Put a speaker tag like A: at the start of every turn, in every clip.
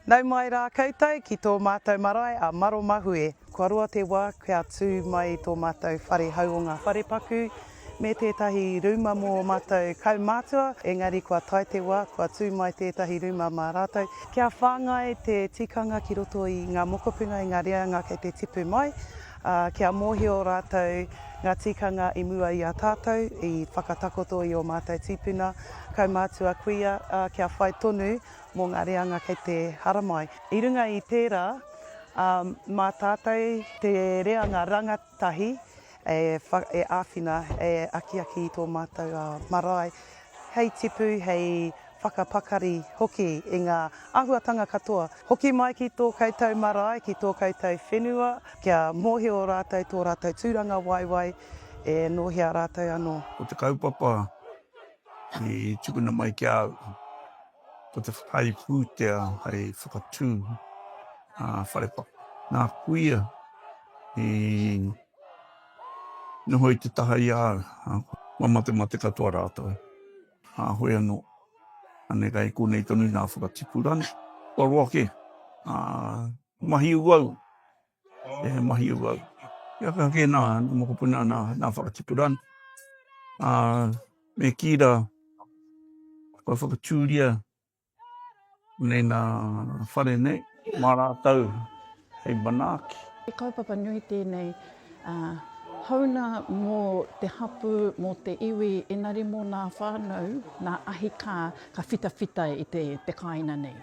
A: Nau mai rā koutou ki tō mātou marae a Maromahue. Kua roa te wā kia tū mai tō mātou whare hau o ngā wharepaku me tētahi rūma mō mātou kaumātua, engari kua tae te wā, kua tū mai tētahi rūma mā rātou. Kia whāngai te tikanga ki roto i ngā mokopuna, i ngā reanga kei te tipu mai, ā, kia mōhio rātou ngā tikanga i mua i a tātou, i whakatakoto i ō mātou tīpuna, kaumātua, kuia, ā, kia whai tonu mō ngā reanga kei te haramai. I runga i tērā, ā, mā tātou te reanga rangatihi, Tahi, e āwhina, e akiaki i tō mātou marae hei tipu, hei whakapakari hoki i ngā āhuatanga katoa. Hoki mai ki tō koutou marae, ki tō koutou whenua, kia mōhio rātou tō rātou tūranga waewae e nōhia rātou anō. Ko te kaupapa i tukuna mai ki a au. Ko te whakaae pūtea hei whakatū a Wharepa. Nā kuia i noho i te taha i a au, ā, kua matemate katoa rātou. Kāhore anō, ānei kai konei tonu nā whakatipuranga, kua roa kē, ā, mahi uaua. e mahi au au. Kia ka kē nā mokopuna nā, nā whakatipurana. Ā, me kī rā, kua whakatūria nei nā whare nei, mā rātou hei manaaki. He kaupapa nui tēnei, ā, houna mō te hapū, mō te iwi, engari mō nā whānau, nā ahi kā ka whitawhita i te, te kāina nei.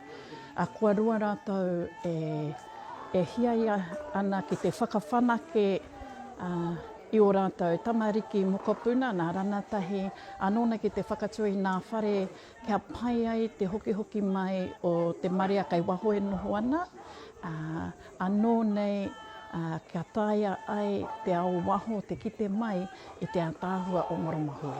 A: Ā, kua roa rātou e. E hiaia ana ki te whakawhanake i ō rātou tamariki mokopuna, nā Ranatahi anōna ki te whakatū i ngā whare kia pai ai te hokihoki mai o te marea kei waho e noho ana, anō nei kia taea ai te ao waho te kite mai i te ataahua o Marama Hui.